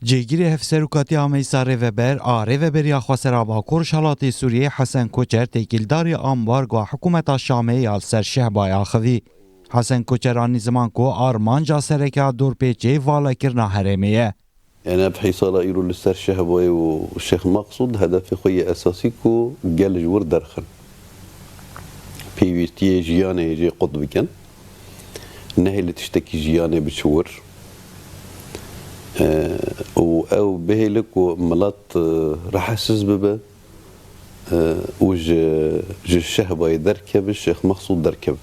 Cêgirê Hevserokatîya Ameysa Rêveber a Rêveberiya Xwesera Bakur-Rojhilatê Sûriyeyê Hesen Koçer têkildarî ambargoya hikûmeta Şamê ya li ser Şehbayê axivî. Hesen Koçer anî ziman ku armanca sereke ya dorpêçê valekirina herêmê ye. Em ev hê sala îro li ser Şehbayê û Şêx Maqsûd hedefê xwe yê esasî ku gel ji wir derxin. pêwîstiyê jiyanê jê qut bikin, nehê li tiştekî jiyanê biçiwir û ew bihêle ku milet rehesiz bibe û ji şehbayê derkeve Şêx Mexsûd derkeve.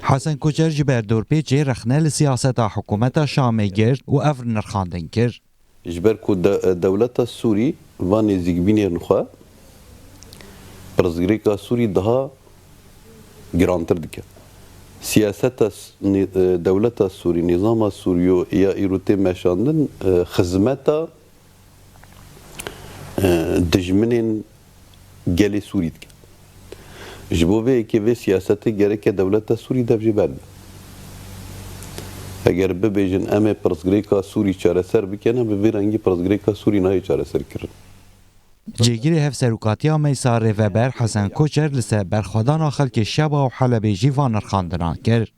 Hesen Koçer ji ber dorpêçê rexne li siyaseta hikûmeta Şamê girt û ev nirxandin kir, Ji ber ku dewleta Sûrî va nêzîkbînên xwe pirsgirêka Sûrî daha girantir dike. Siyaseta dewleta Sûrî, nîzama Sûrî ya îro tê meşandin xizmeta dijminên. gelê Sûrî dike. Ji bo vê yekê vê siyasetê gereke dewleta Sûrî dev jê ber be. Eger bibêjin em ê pirsgirêka Sûrî çareser bike ne bi vê rengî pirsgirêka Sûrî nayê çareserkirin. Cihêgirê Hevserokatiya Meysa Rêveber Hesen Koçer li ser berxwedana xelkê Şeba û Helebê jî van nirxandina kir.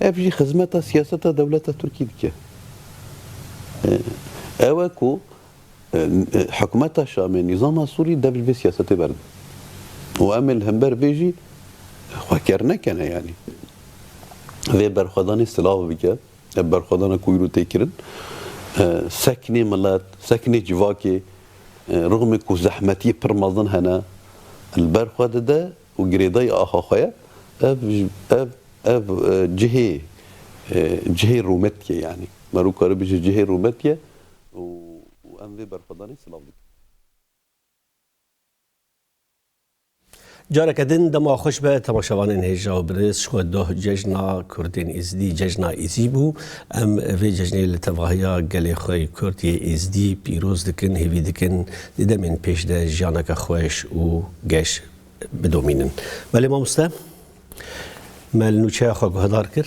Ev jî xizmeta siyaseta dewleta Tirkî dike. Ew e ku hikûmeta Şamê, nîzama Sûrî dev ji vê siyasetê berde û em ê li hember vê jî xwe ker nekene yanî. Vê berxwedanê silav bike. Ev berxwedana ku îro tê kirin sekinê milet, sekinê civakê rixmê ku zehmetiyê pir mezin hene li ber xwe dide. û girêdayî axa xwe ye, ev ev ev cihê cihê rûmetiye yanî me rû karî bijî cihê rûmetiye û û em vê berxwedanê silav dikin. Careke din dema xweş be temaşevanên hêja û birêz ji xwe doh cejna Kurdên Êzidî cejna Êzî bû. Em vê cejnê li tevahiya gelê xwe yê Kurd yê Êzidî pîroz dikin, hêvî dikin di demên pêş de jiyaneke xweş û geş bidomînin. Belê mamoste me li nûçeya xwe guhedar kir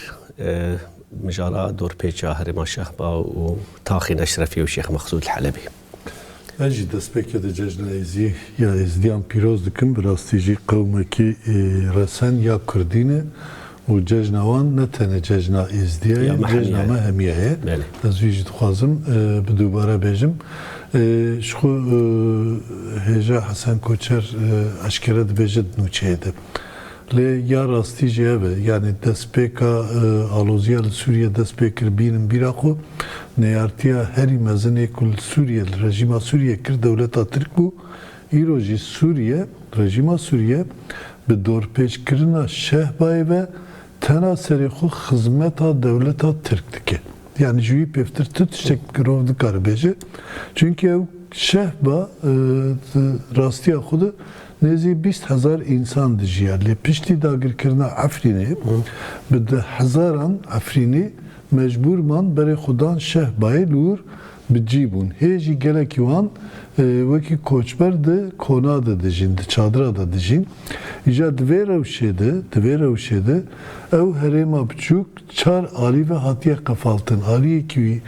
mijara dorpêça herêma Şehba û taxên Eşrefî û Şêx Mexsûd li Helebê. Ez jî destpêkê di Cejna Êzî ya Êzidiyan pîroz dikim. Bi rastî jî qewmekî resen ya kurdî ne. Û cejna wan ne tenê cejna Êzdîya ye, cejna me hemîya ye. Ez wî jî dixwazim bi dubare bêjim. Ji xwe hêja Hesen Koçer eşkere dibêje di nûçeyê de. Lê ya rastî jî ev e. Yanî destpêka alozîya li Sûrîyê dest pê kir bînin bîra xwe. Neyartîya herî mezinê ku li Sûrîyê li rejîma Sûrîyê kir dewleta Tirk bû. Îro jî Sûriye, rejîma Sûriye bi dorpêçkirina Şehbayê ve tena serê xwe xizmeta dewleta Tirk dike. Yanî ji wî pêvtir tu tiştek girov nikare bêje. Çunkî ew Şehba di rastiya xwe de nêzî bîst hezar însan dijiya. Lê piştî dagirkirina Efrînê bi di hezaran Efrînî mecbûr man berê xwe dan Şehbayê li wir Bi cî bûn. Hê jî gelekî wan wekî koçber di kona de dijîn, di çadira de dijîn. Îja di vê rewşê de, di vê rewşê de ew herêma biçûk çar alî ve hatiye qefaltin. Aliyekî wî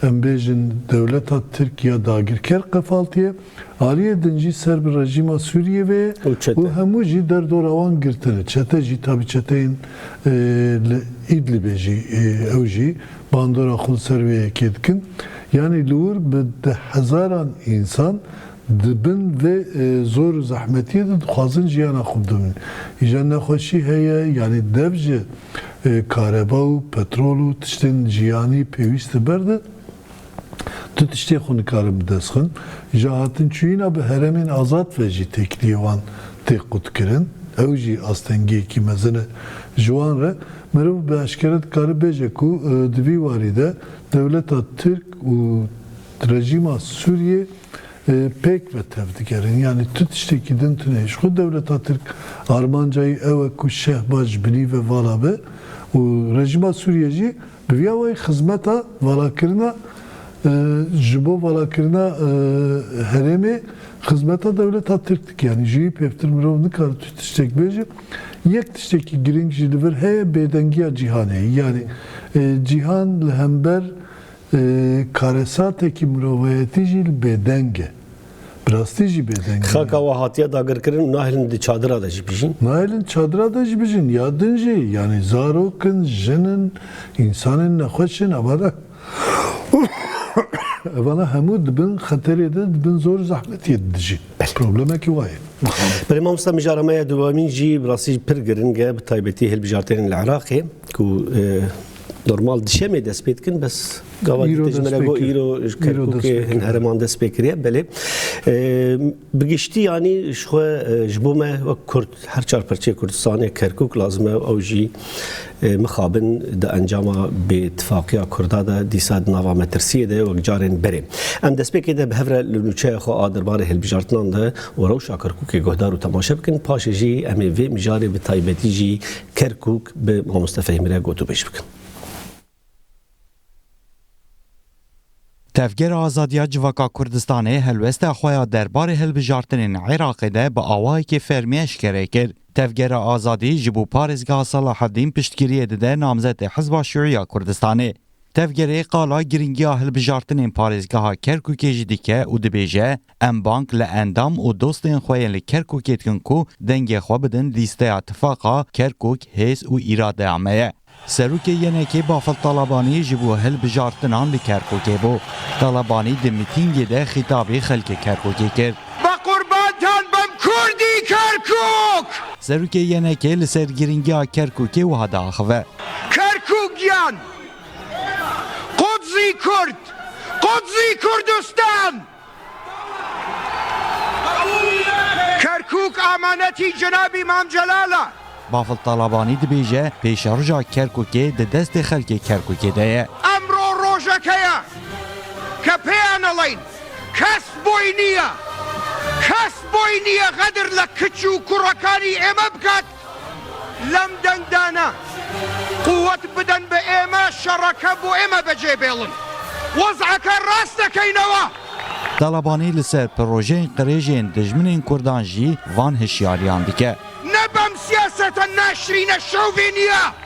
em bêjin dewleta Tirk ya dagirker qefaltiye. Aliyê din jî ser bi rejîma Sûriyê ve û hemû jî derdora wan girtin. Çete jî tabî çeteyên li Îdlibê jî ew jî bandora xwe li ser wê yekê dikin. Yanî li wir bi deh hezaran însan di bin vê zor û zehmetiyê de dixwazin jiyana xwe bidomînin. Îja nexweşî heye yanî dev ji kareba û petrol û tiştên jiyanî pêwîst li ber di. Du tiştê xwe nikarin bi dest xin, ji hatinçûyîna bi heremên azad ve jî têkiliyê wan tê qutkirin, ew jî astengiyekî mezin e. Ji wan re mirov bi eşkere dikare bêje ku di vî warî de dewleta Tirk û rejîma Sûriyê pêk ve tev digerin. Yanî tu tiştekî din tune ji xwe, dewleta Tirk armanca wî ew e ku Şehbaz ji binî ve vala be û rejîma Sûriyê jî Bi vî awayî xizmeta valakirina ji bo valakirina herêmê xizmeta dewleta Tirk dike. Yanî ji wî pêvtir mirov nikare tu tiştek bêje. Yek tiştekî girîng jî li vir heye bêdengiya cîhanê ye. Yanî cîhan li hember karesatekî mirovayetî jî bêdeng e. Bi rastî jî bêdeng. Xaka we hatiye dagirkirin û nahêlin di çadira de jî bijîn. Nahêlin çadira de jî bijîn ya din jî yanî zarok in, jin in, însanên nexweş in evana evana hemû di bin xeterê de di bin zor zehmetiyê de dijîn. Problemekî wa ye. Belê mamosta mijara me ya dewemîn jî bi rastî pir giring e bi taybetî hilbijartinên li Iraqê ku Normal dişemê dest pê dikin bes gava Îro dîte ji dest min re pê got kir. îro ji Îro Kerkûkê dest pê hin kir. hereman dest pê kiriye belê. E, Bi giştî yanî ji xwe e, ji bo me wek Kurd her çar parçeyê Kurdistanê Kerkûk lazim e û ew jî e, mixabin di encama bêîtifaqiya Kurda de dîsa di nava metirsiyê de ye wek carên berê. Em destpêkê de bi hev re li nûçeya xwe a derbarê hilbijartinan de û rewşa Kerkûkê guhdar û temaşe bikin, paşê jî em ê vê mijarê bi taybetî jî Kerkûk bi Mamoste Fehîmî re gotûbêj bikin. Tevgera Azadiya Civaka Kurdistanê helwesta xwe ya derbarê hilbijartinên Iraqê de bi awayekî fermî eşkere kir. Tevgera Azadî ji bo parêzgeha Salaheddîn piştgiriyê dide namzetê Hizba Şiûî ya Kurdistanê. Tevgerê qala girîngiya hilbijartinên parêzgeha Kerkûkê jî dike û dibêje, Em bang li endam û dostên xwe yên li Kerkûkê dikin ku dengê xwe bidin lîsteya Tifaqa Kerkûk, Hêz û Îradeya me ye. Serokê YNK Bafil Talabanî ji bo hilbijartinan li Kerkûkê bû. Talabanî di mitîngê de xîtabî xelkê Kerkûkê kir. Bi qurbantan bim Kurdî Kerkûk! Serokê YNK li ser girîngiya Kerkûkê wiha diaxive. Kerkûk giyan! Qudsî Kurd! Qudsî Kurdistan! Kerkûk amanetî Cenabî Mam Celal a. Bafil Talabanî dibêje, Pêşerja Kerkûkê di destê xelkê Kerkûkê de ye. Emro rojek heye ke pêyan eleyîn, kes boy nîye, kes boy nîye xedir li kiç û kurekanî ême bikat, Lem deng dane, quwet bidin bi ême şereke bo ême becê bêlin. Wezeke rast dekeynewa. Talabanî li ser pirojeyên qirêjên dijminên Kurdan jî van hişyariyan dike. Ne bem siyaseta naşirîne şovênî ye.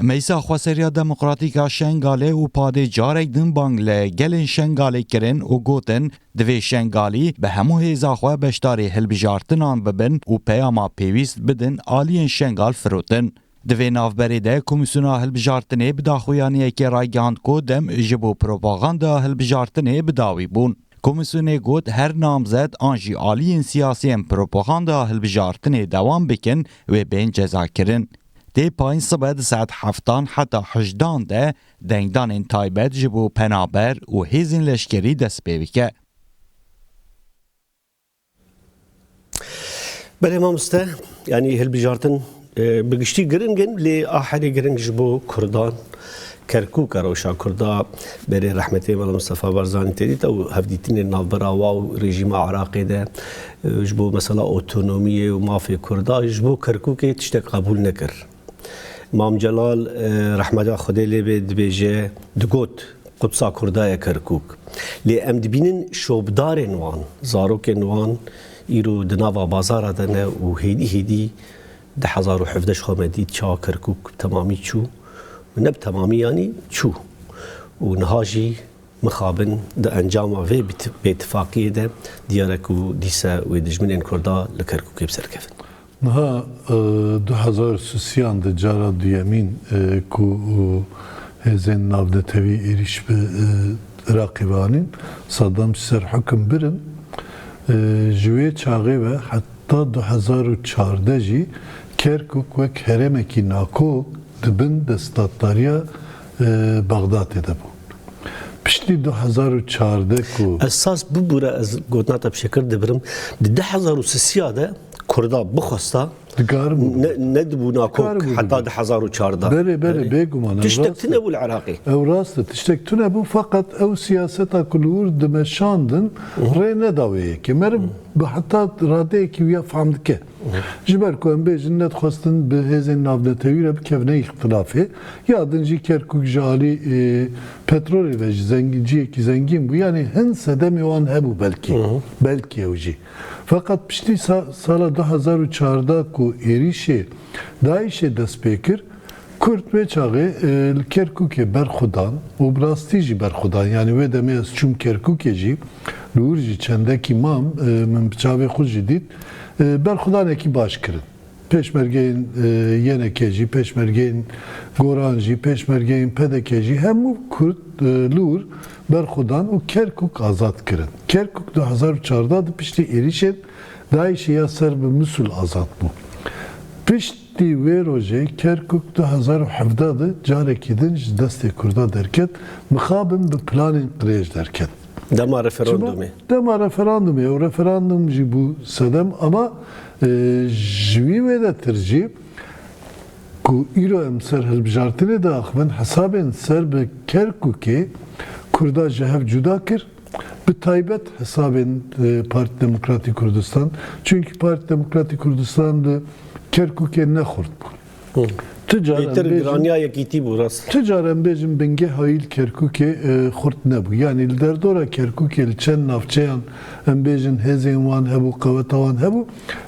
Meysa Xweseriya Demokratîk a Şengalê û padê carek din bang li gelên Şengalê kirin û gotin, Divê Şengalî bi hemû hêza xwe beşdarî hilbijartinan bibin û peyama pêwîst bidin aliyên Şengal firotin. Di vê navberê de Komîsyona Hilbijartinê bi daxuyaniyekê ragihand ku dem ji bo propagandaya hilbijartinê bi dawî bûn. Komîsyonê got her namzet an jî aliyên siyasî em propagandaya hilbijartinê dewam bikin wê bên cezakirin. Tê payîn sibe di saet heftan heta hejdan de dengdanên taybet ji bo penaber û hêzên leşkerî dest pê bike. Belê mamoste, yanî hilbijartin bi giştî giring in lê a herî giring ji bo kurdan Kerkûk a rewşa Kurd a berê rehmetê Mela Mistefa Barzanî tê dît û hevdîtinên navbera wa û rejîma Iraqê de ji bo mesela otonomiyê û mafê Kurdan ji bo Kerkûkê tiştek qebûl nekir. Mam Celal rehmeta Xwedê lê bê dibêje, digot, Qudsa Kurda ye Kerkûk. Lê em dibînin şopdarên wan, zarokên wan îro di nava bazara de ne û hêdî hêdî, Di hezar û hevdeh xwe me dît çawa Kerkûk bi temamî çû û ne bi temamî yanî çû û niha jî mixabin di encama vê bêtifaqiyê de diyar e ku dîse wê dijminên Kurda li Kerkûkê bi ser kevin. Niha du hezar sisiyan de cara duyemîn ku hêzên navnetewî êrîş bi Iraqê ve anîn, Saddam ji ser hikim birin. Ji wê çaxê ve Ta du hezar û çardeh jî Kerkûk wek herêmekî nakok di bin destdatdariya Bexdatê de bû. Piştî du hezar û çardeh ku. Esas bibûre ez gotina te bi şekir dibirim, di du hezar û sisiya de Kurda bixwesta dikaribû bibin. Nedibû nakok heta du hezar û çardeh. Belê belê bêguman ew rast e. Tiştek tunebû li Iraqê. Ew rast e tiştek tunebû feqet ew siyaseta ku li wir dimeşandin rê neda wê yekê. Meriv Bi heta radeyekî wî ya fam dike. Ji ber ku em bêjin ne dixwestin bi hêzên navnetewî re bikevine îxtilafê. Ya din jî Kerkûk ji alî petrolê ve ji zengîn ciyekî zengîn bû. Yanî hin sedemê wan hebû belkî. Belkî ew jî. Feqet piştî sala du hezar û çardeh ku êrîşê DAIŞ'ê dest pê kir, Kurd wê çaxê li Kerkûkê berxwedan û bi rastî jî berxwedan. Yanî wê demê ez çûm Kerkûkê jî, li wir jî çendekî mam, min bi çavê xwe jî dît. Berxwedanekî baş kirin. Pêşmergeyên YNK jî, pêşmergeyên Goran jî, pêşmergeyên PDK'ê jî hemû Kurd li wir berxwedan û Kerkûk azad kirin. Kerkûk du hezar û çardeh di piştî êrîşên DAIŞ'ê ya ser bi Misûl azad bû. Pişt. Ê wê rojê Kerkûk du hezar û hevdeh de carekî din ji destê Kurdan derket, mixabin bi planên qirêj derket. Dema referandûmê. Dema referandûmê, ew referandûm jî bû sedem ama ji wî wê de tir jî ku îro em ser hilbijartinê diaxivin hesabên ser bi Kerkûkê Kurda ji hev cuda kir, Bi taybet hesabên Partî Demokratî Kurdistan, çunkî Partî Demokratî Kurdistan li Kerkûkê ne xurt bû. Tu car em bêjin, tu car em bêjin bingeha wî li Kerkûkê xurt nebû. Yanî li derdora Kerkûkê li çend navçeyan em bêjin hêzên wan hebû, qeweta wan hebû.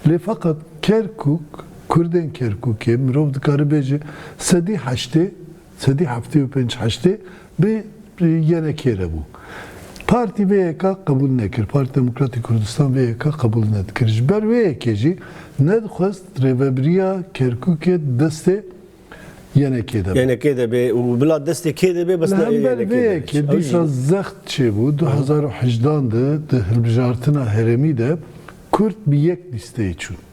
Lê feqet Kerkûk, Kurdên Kerkûkê mirov dikare bêje sedî heştê, Sedî heftê û pênc heştê bê yene kê re bû. Partî vê yeka qebûl nekir. Partî Demokratî Kurdistan vê yeka qebûl nedikir. Ji ber vê yekê jî nedixwest Rêvebiriya Kerkûkê di destê yene kê de be. Yene kê de bê û bila destê kê de bê bes Li ne yene hember vê kê de be. yekê Ew jî dîsa zext çêbû du hezar û hejdan de di hilbijartina herêmî de Kurd bi yek lîsteyê çûn.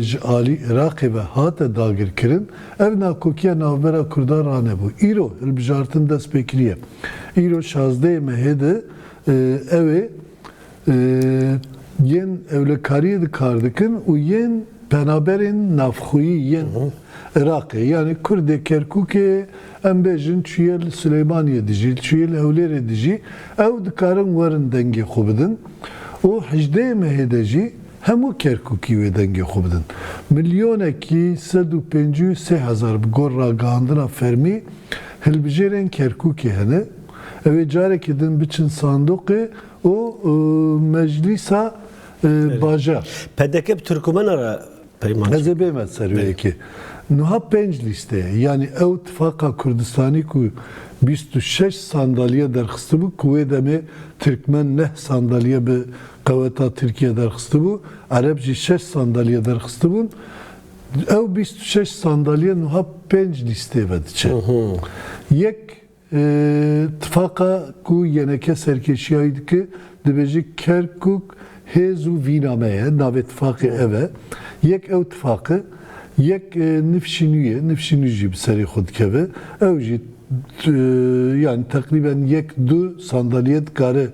ji alî Iraqê ve hate dagirkirin, ev nakokiya navbera Kurdan ranebû. Îro hilbijartin dest pê kiriye. Îro şazdeyê mehê de ew ê yên ewlekariyê di kar dikin û yên penaberên navxweyî yên Iraqê yanî Kurdê Kerkûkê em bêjin çûye li Silêmaniyê dijî, çûye li Hewlêrê dijî ew dikarin werin dengê xwe bidin û hejdeyê mehê de jî, Hemû Kerkûkî wê dengê xwe bidin. Milyonekî sed û pêncî û sê hezar bi gor ragihandina fermî hilbijêrên Kerkûkê hene. Ew ê carekê din biçin sandoqê û meclîsa bajar. Pdk bi Tirkûmena re peyman çêkir. Ez ê bême ser wê yekê. Nuha pênc lîste ye. Yanî ew Tifaqa Kurdistanî ku bîst û şeş sandalye derxistibû ku wê demê Tirkmen neh sandalye bi Qeweta Tirkiye derxistibû, Ereb jî şeş sandalye derxistibûn. Ew bîst û şeş sandalye nuha pênc lîstê ve diçe. Yek tifaqa ku YNK serkêşiyayî dike dibêje Kerkûk hêz û vîna me ye, navê tifaqê ev e. Yek ew tifaq e, yek nifşînû ye, nifşînû jî bi serê xwe dikeve. Ew jî yanî teqrîben yek du sandalye dikare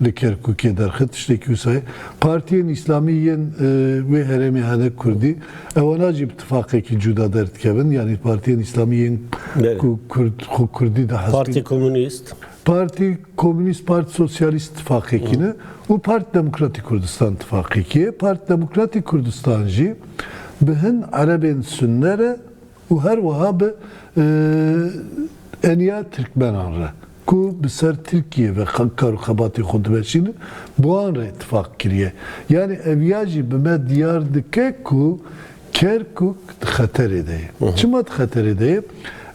Li Kerkûkê derxist tiştekî wisa ye. Partiyên Îslamî yên wê herêmê hene kurdî, ewana jî bi tifaqekî cûda derdikevin, yanî partiyên Îslamî yên ku kurd xwe kurdî dihesibînin. Partî Komûnîst. Partî Komûnîst, Partî Sosyalîst tifaqekî ne û Partî Demokratîk Kurdistan tifaqekî ye. Partî Demokratîk Kurdistan jî bi hin erebên sunne re, û her wiha bi eniya tirkmenan re ku bi ser Tirkiyê ve kar û xebatên xwe dimeşînin bi wan re îtîfaq kiriye. Yanî ev ya jî bi me diyar dike ku Kerkûk di xeterê de ye. Çima di xeterê de ye?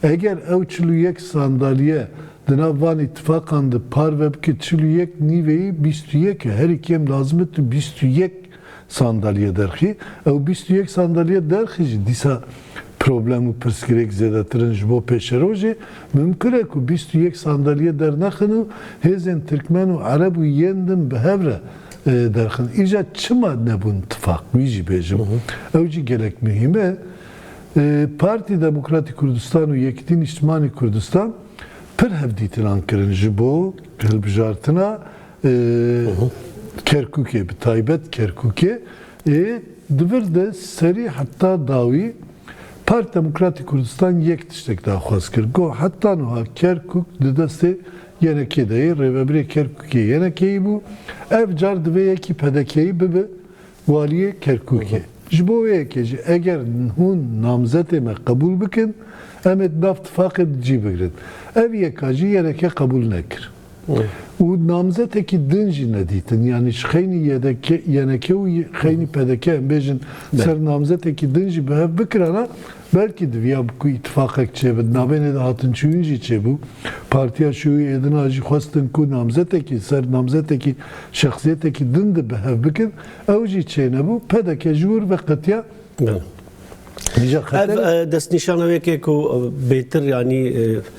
Eger ew çil û yek sandalye di nav van îtîfaqan de parve bike, çil û yek nîveyî bîst û yek e. Herî kêm lazim e tu bîst û yek. Sandalye derxî, ew bîst û yek sandalye derxî jî dîsa problem û pirsgirêk zêdetir in ji bo pêşerojê, mimkun e ku bîst û yek sandalye dernexin û hêzên tirkmen û ereb û yên din bi hev re derxin. Îja çima nebûn tifaq wî jî bêjim, ew jî gelek muhîm e. Partî Demokratî Kurdistan û Yekîtî Nîştimanî Kurdistan pir hevdîtinan kirin ji bo hilbijartina Kerkûkê bi taybet Kerkûkê ê di vir de serî heta dawî Parti Demokratî Kurdistan yek tiştek daxwaz kir got, Heta nuha Kerkûk di destê ynk de ye, rêvebirê Kerkûkê ynk yî bû, ev car divê yekî pdk'yî bibe Waliyê Kerkûkê, Ji bo wê yekê jî eger hûn namzetê me qebûl bikin, em ê di nav tifaqê di cî bigrin. Ev yeka jî yereke qebûl nekir û namzetekî din jî nedîtin. Yanî ji xeynî YDK, YNK û xeynî PDK em bêjin ser namzetekî din jî bi hev bikirana Belkî diviya bi ku îtîfaqek çêbin. Navênê de hatinçûyîn jî çêbû. Partiya Şûyî êdina jî xwestin ku namzetekî ser namzetekî şexsiyetekî din di bi hev bikin. Ew jî çênebû. Pdk ji wir ve qetiya Bela. Ev destnîşana wê yekê ku bêtir yanî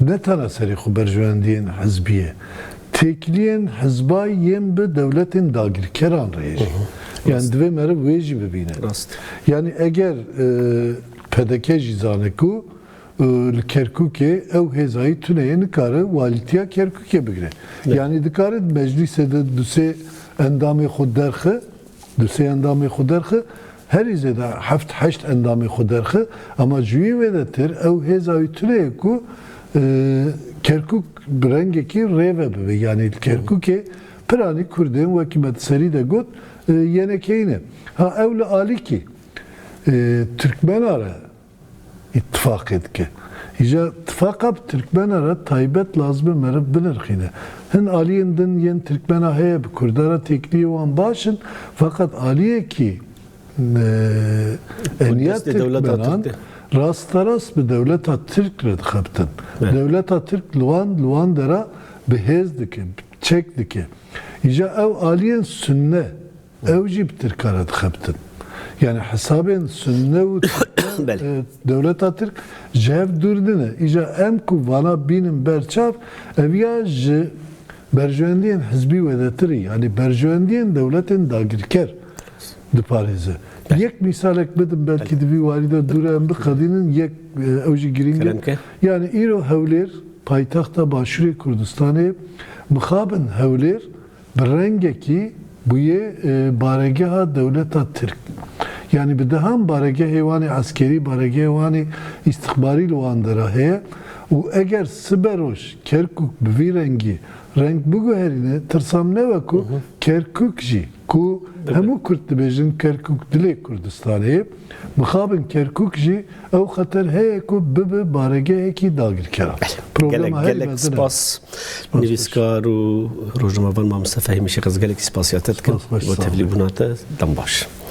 Ne tana serê xwe berjewendiyên hizbî ye, têkiliyên hizbayî yên bi dewletên dagirkeran re ye jî. Yanî divê meriv wê jî bibîne. Yanî eger pdk jî zane ku li Kerkûkê ew hêzayî tune ye nikare walîtiya Kerkûkê bigire. Yanî dikare di meclîsê de du sê endamê xwe derxe Du sê endamê xwe derxe, herî zêde heft heşt endamê xwe derxe, ema ji wî wêdetir ew hêza wî tune ye ku Kerkûk bi rengekî rêve bibe. Yanî li Kerkûkê piranî Kurdên wekî me di serî de got yenekeyî ne. Ha ew li alîkî Tirkmena re Îtîfaqê dike. Îja îtîfaqa bi tirkmena re taybet lazim e meriv binirxîne. Hin aliyên din yên tirkmena heye bi kurda re têkiliyê wan baş in feqet aliyekî eliya tirkmenan rasterast bi dewleta tirk re dixebitin. Dewleta tirk li wan li wan dera bi hêz dike, bi çek dike. Îja ew aliyên sunne Ew jî bi tirkan re dixebitin. Yanî hesabên sunne û dewleta tirk ji hev dûr nine. Îja em ku vana bînin ber çav, ev ya ji berjewendiyên hizbî wêdetirî, yanî berjewendiyên dewletên dagirker diparêze. Yek mîsalek bidim belkî di vî warî de dû re em biqedînin, yek ew jî girîng e. Yanî îro Hewlêr, paytexta Başûrê Kurdistanê ye. Mixabin Hewlêr Bi rengekî bûye baregeha dewleta Tirk. Yanî bi dehan baregehê wanê eskerî, baregehê wanê îstixbarî li wan de re heye û eger siberoj Kerkûk bi vî rengî reng biguherîne, tirsam ne wek o Kerkûk jî ku hemû kurd dibêjin Kerkûk dilê Kurdistanê ye, Mixabin Kerkûk jî ew xeter heye ku bibe baregehekî dagirkeran. Gelek gelek spas nivîskar û rojnamevan Mamoste Fehîmî Şêxez gelekî spasîya te dikim bo tevlîbûna te. Dem baş.